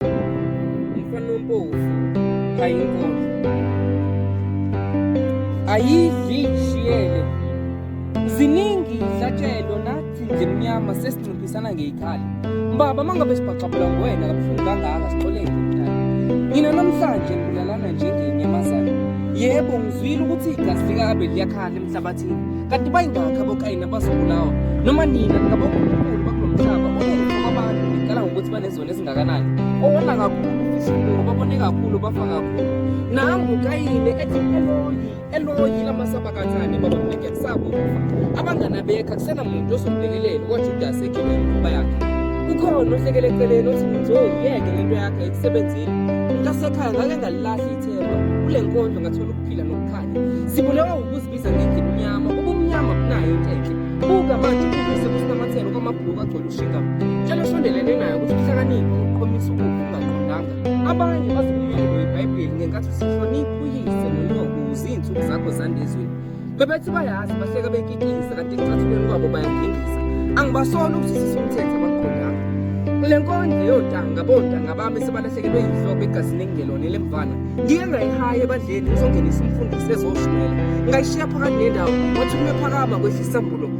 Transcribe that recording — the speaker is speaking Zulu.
umfana ompofu ayinkosi ayizishiyele ziningi ihlatshelwa nathi nje mnyama sesinciphisana ngeyikhala mbaba mangabe sibhaxabula nguwena kabuhlungu kangaka sixoleke mdala mina namhlanje ngilalana njengenyamazana yebo ngizwile ukuthi igazi likabe liyakhala emhlabathini kanti bayingakhi abokayini abazobulawa noma nina ngabonkulunkulu bakulo mhlaba oyenza kwabantu ngicala ngokuthi banezo nezingakanani owona kakhulu ufihlile ngoba bone kakhulu bafa kakhulu nangu kayile ethi eloyi eloyi lamasabakathane baba mneke kusakufa abangani abekho akusenamuntu ozomlekelela kwajudasi egibela inkuba yakhe ukhona ohlekele eceleni othi ngizowuyeke lento yakhe ekusebenzini mntasekhaya ngake ngalilahla ithemba kule nkondlo ngathola ukuphila nokukhanya sibulewa wukuzibiza ngendlela imnyama ubumnyama kunayo into enhle buka manje usebusinamathelo kwamabhuluku agcwele Shinga. Tshela sondelene naye ukuthi uhlakaniphe uqhomisa ukufa ungaqondanga. Abanye bazokumelwa iBhayibheli ngenkathi usihlonipha uyise nonyoko uzinsuku zakho zandezweni. Bebethi bayazi bahleka bekikiza kanti ekucathulweni kwabo bayagingisa. Angibasoli ukuthi sisumthetho abaqondanga. Le nkondlo yotanga bontanga bami sebalahlekelwe yinhloko egazini engelona elemvana. Ngike ngayihaye ebadleni ngizongenisa umfundisi ezoshumayela. Ngayishiya phakathi nendawo wathi kume phakama kwehlisa mbulo.